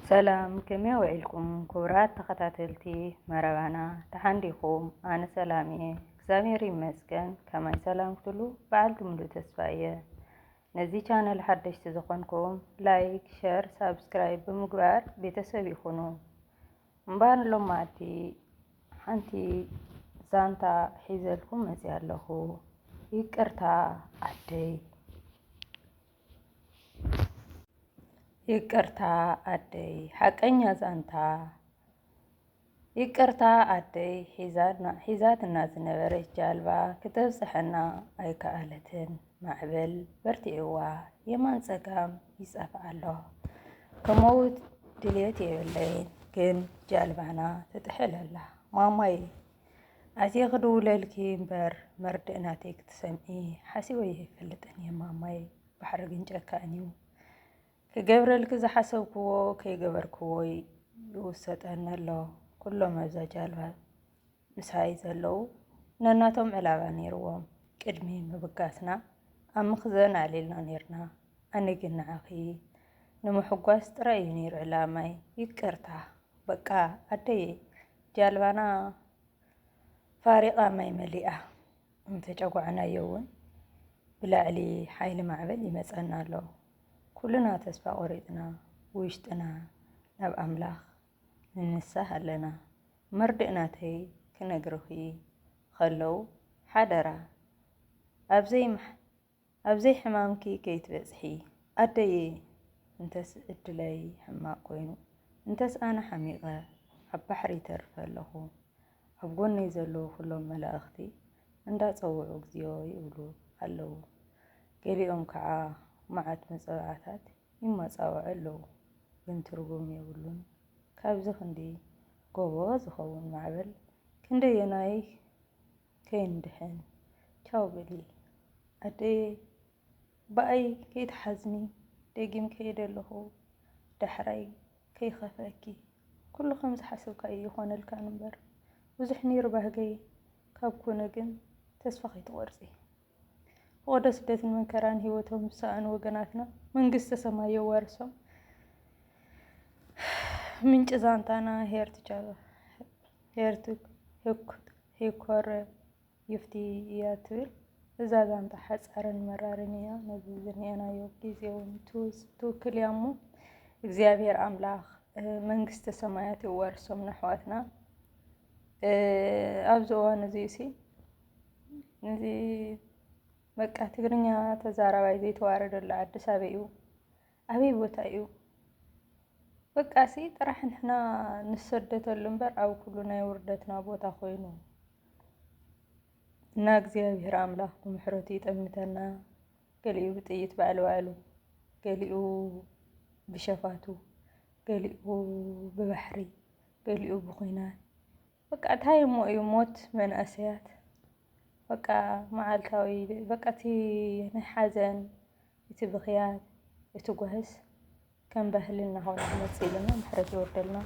ሰላም ከመይ ውዒልኩም ኩቡራት ተከታተልቲ መረባና ደሓን ዲኩም ኣነ ሰላም እየ እግዚኣብሔር ይመስገን ከማይ ሰላም ክትሉ በዓልቲ ሙሉእ ተስፋ እየ ነዚ ቻነል ሓደሽቲ ዝኮንኩም ላይክ ሸር ሳብስክራይብ ብምግባር ቤተሰብ ይኩኑ እምባር ሎማቲ ሓንቲ ዛንታ ሒዘልኩም መፅያ ኣለኹ ይቅርታ ዓደይ ይቅርታ ኣደይ ሓቀኛ ዛንታ ይቅርታ ኣደይ ሒዛትና ዝነበረች ጃልባ ክተብፅሐና ኣይከኣለትን ማዕበል በርቲዕዋ የማን ፀጋም ይፀፍእ ኣሎ ከመውት ድልየት የብለይን ግን ጃልባና ትጥሕል ኣላ ማማይ ኣዜ ክድውለልኪ እምበር መርድእ ናተይ ክትሰምዒ ሓሲበዮ ኣይፈልጥን እየ ማማይ ባሕሪ ግን ጨካን እዩ ክገብረልኪ ዝሓሰብክዎ ከይገበርክዎ ይውሰጠኒ ኣሎ ኩሎም ኣብዛ ጃልባ ምሳይ ዘለው ነናቶም ዕላባ ነይርዎም ቅድሚ ምብጋስና ኣብ ምኽዘን ኣዕሊልና ነይርና ኣነ ግን ንዓኺ ንምሕጓስ ጥራይ እዩ ነይሩ ዕላማይ ይቅርታ በቃ ኣደይ ጃልባና ፋሪቓ ማይ መሊኣ እንተጨጓዕናዮ እውን ብላዕሊ ሓይሊ ማዕበል ይመፀና ኣሎ። ኩልና ተስፋ ቆሪፅና ብውሽጥና ናብ ኣምላኽ ንንሳህ ኣለና። መርድእ ናተይ ክነግርኺ ኸለው ሓደራ ኣብዘይ ኣብ ዘይ ሕማምኪ ከይትበጽሒ ኣደየ እንተስ እድለይ ሕማቅ ኮይኑ እንተስ ኣነ ሓሚቀ ኣብ ባሕሪ ይተርፍ ኣለኩ ኣብ ጎነይ ዘለዉ ኩሎም መላእክቲ እንዳ ጸውዑ እግዚኦ ይብሉ ኣለዉ ገሊኦም ክዓ ማዓት መጸብዓታት ይማጻውዑ ኣለዉ ግን ትርጉም የብሉን ካብዚ ክንዲ ጎቦ ዝከውን ማዕበል ክንደየናይ ከይንድሕን ቻው በሊ ኣደየይ ብኣይ ከይትሓዝኒ ደጊም ከይደ ኣለኹ ዳሕራይ ከይኸፍኣኪ ኩሉ ከም ዝሓሰብካ እዩ ይኾነልካ እምበር ብዙሕ ነይሩ ባህገይ ካብ ኩነ ግን ተስፋ ከይትቆርፂ ፍቐዶ ስደትን መከራን ህይወቶም ዝሰኣኑ ወገናትና መንግስተ ሰማይ የዋርሶም። ምንጭ ዛንታና ሄርት ቻሉ ሄርት ሄኮር ይፍቲ እያ ትብል እዛ ዛንታ ሓፃርን መራርን እያ። ነዚ ዝኒአናዮ ግዜ እውን ትውክል እያ እሞ እግዚኣብሔር ኣምላኽ መንግስተ ሰማያት የዋርሶም ነሕዋትና ኣብዚ እዋን እዚ ሲ እዚ በቃ ትግርኛ ተዛራባይ ዘይተዋረደሉ ዓዲ ሳበይ እዩ? ኣበይ ቦታ እዩ? በቃ ሲ ጥራሕ ንሕና ንሰደተሉ እምበር ኣብ ኩሉ ናይ ውርደትና ቦታ ኮይኑ እና እግዚኣብሔር ኣምላኽ ብምሕረቱ ይጠምተና። ገሊኡ ብጥይት ባዕሉ ባዕሉ፣ ገሊኡ ብሸፋቱ፣ ገሊኡ ብባሕሪ፣ ገሊኡ ብኩናት በቃ እንታይ እሞ እዩ ሞት መንእሰያት በቃ መዓልታዊ በቃ እቲ ናይ ሓዘን እቲ ብኽያት እቲ ጓህስ ከም ባህሊ እናኾነ ክመፅእ ኢለና ምሕረት የውርደልና።